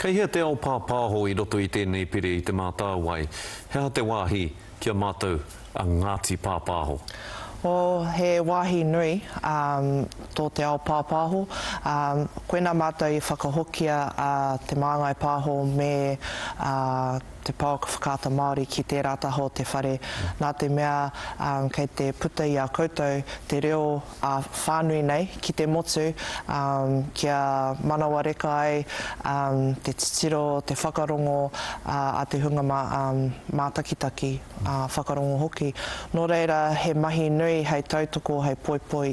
Kei hea te ao pāpāho i roto i tēnei pire i Te Mātāwai? He aha te wāhi ki a mātou a Ngāti Pāpāho? Oh, he wāhi nui, ā, tō te ao pāpāho. Ā, koinā mātou i whakahokia a Te Māngai Pāho me, ā, Te Pouaka Whakaata Māori ki tērā taha o te whare, nā te mea, ā, kei te puta i a koutou te reo, ā whānui nei ki te motu kia manawareka ai te titiro, te whakarongo a te hunga mātakitaki, whakarongo hoki. Nō reira he mahi nui hei tautoko, hei poipoi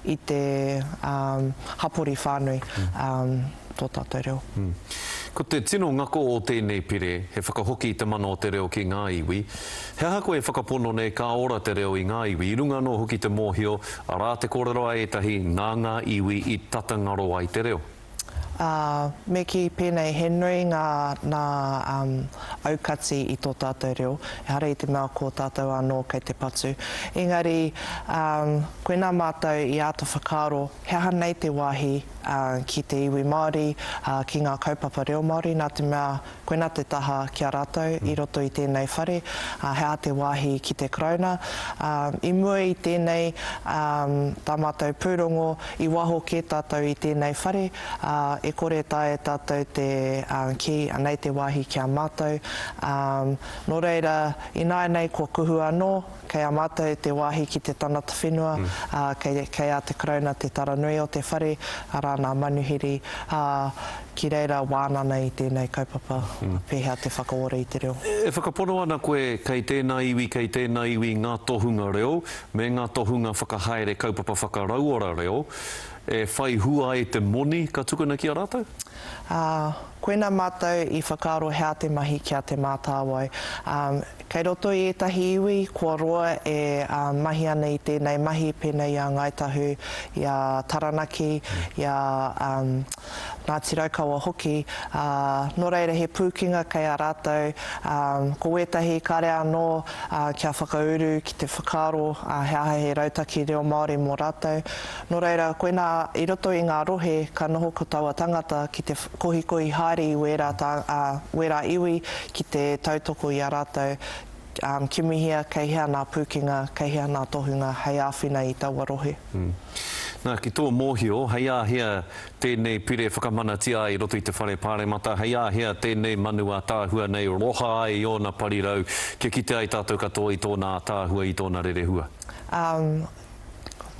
i te hapori whānui tō tātou reo. Ko te tino ngako o tēnei pire he whakahoki i te mana o te reo ki ngā iwi, He aha koe e whakapono nei ka ora te reo i ngā iwi, i runga anō hoki te mōhio, arā te kōrero a ētahi nā ngā iwi i tata ngaro ai te reo? Ā, me kī pēnei, he nui ngā, nā, um, aukati i tō tātou reo, ehara i te mea ko tātou anō kei te patu. Engari, um, koinā mātou i āta whakaaro he aha nei te wāhi, uh, ki te iwi Māori, uh, ki ngā kaupapa reo Māori, nā te mea Koinā te taha ki a rātou i roto i tēnei whare, ā, he aha te wāhi ki te Karauna? Ā, i mua i tēnei, ā, tā mātou pūrongo, i waho kē tātou i tēnei whare, ā, e kore e taea e tātou te, ā, kī, anei te wāhi ki a mātou, ā, nō reira, ināianei kua kuhu anō, Kei a mātou te wāhi ki te tangata whenua, ā, kei, kei a te Karauna te tara nui o te whare, arā, nā Manuhiri, ā, ki reira wānana i tēnei kaupapa, pēhea te whakaora i te reo. E whakapono ana koe kei tēnā iwi, kei tēnā iwi ngā tohunga reo me ngā tohunga whakahaere kaupapa whakarauora reo e whai hua ai te moni ka tukuna ki a rātou? Ā, Koinā mātou i whakaaro hea te mahi ki a Te Mātāwai. Kei roto i ētahi iwi kua roa e mahi ana i tēnei mahi pēnei i a Ngāi Tahu, i a Taranaki, i a Ngāti Raukawa hoki, ā, nō reira he pūkenga kei a rātou, ko wētahi kare anō kia whakauru ki te whakaaro he aha he rautaki reo Māori mō rātou. Nō reira, koinā i roto i ngā rohe ka noho ko taua tangata ki te kohikohi haere i wērā, ā, wērā iwi ki te tautoko i a rātou, ā, kimihia kei hea nā pūkenga, kei hea nā tohunga hei āwhina i taua rohe. Nā, ki tō mōhio, hei ā hea tēnei pire whakamanatia ai i roto i te Whare Pāremata, hei ā hea tēnei manu ātaahua nei roha ai i ōna parirau kia kite ai tātou katoa i tōna ātaahua, i tōna rerehua? Ā,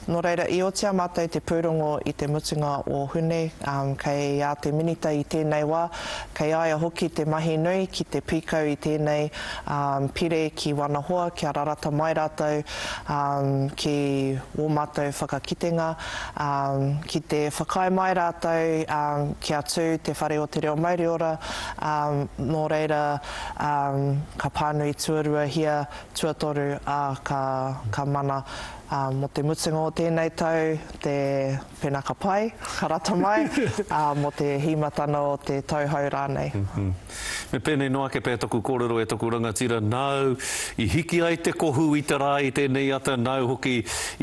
Nō reira, i otia mātou te pūrongo i te mutunga o Hune, kei a te Minita i tēnei wā, kei a ia hoki te mahi nui ki te pīkau i tēnei pire ki wana hoa kia rarata mai rātou ki wō mātou whakakitenga, ki te whakaae mai rātou kia tū te Whare o te Reo Mauriora, nō reira, ka pānui tuaruahia Tuatoru, ā, ka, ka mana, ā, mō te mutunga o tēnei tau, te Penaka Pai, ka rata mai, ā, mō te hīmatana o te tau hou rānei. Me pēnei noa ake pea taku kōrero e taku rangatira, nāu i hiki ai te kohu i te rā i tēnei ata, nāu hoki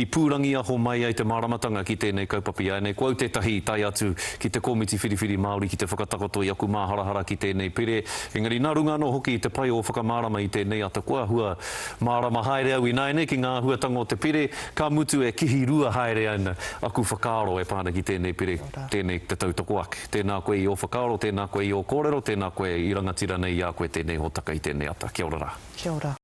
i pūrangiaho mai ai te māramatanga ki tēnei kaupapa. Iāinei ko au tētahi i tae atu ki te Komiti Whiriwhiri Māori ki te whakatakoto i aku māharahara ki tēnei pire, Engari nā runga anō hoki i te pai o whakamārama i tēnei atakoa hua, mārama haere au ināianei ki ngā āhuatanga o te pire, ka mutu e kihi rua haere ana aku whakaaro e pā ana ki tēnei pire, tēnei te tautoko ake. Tēnā koe i ō whakaaro, tēnā koe i ō kōrero, tēnā koe i rangatira nei i a koe tēnei hōtaka i tēnei ata. Kia ora rā. Kia ora.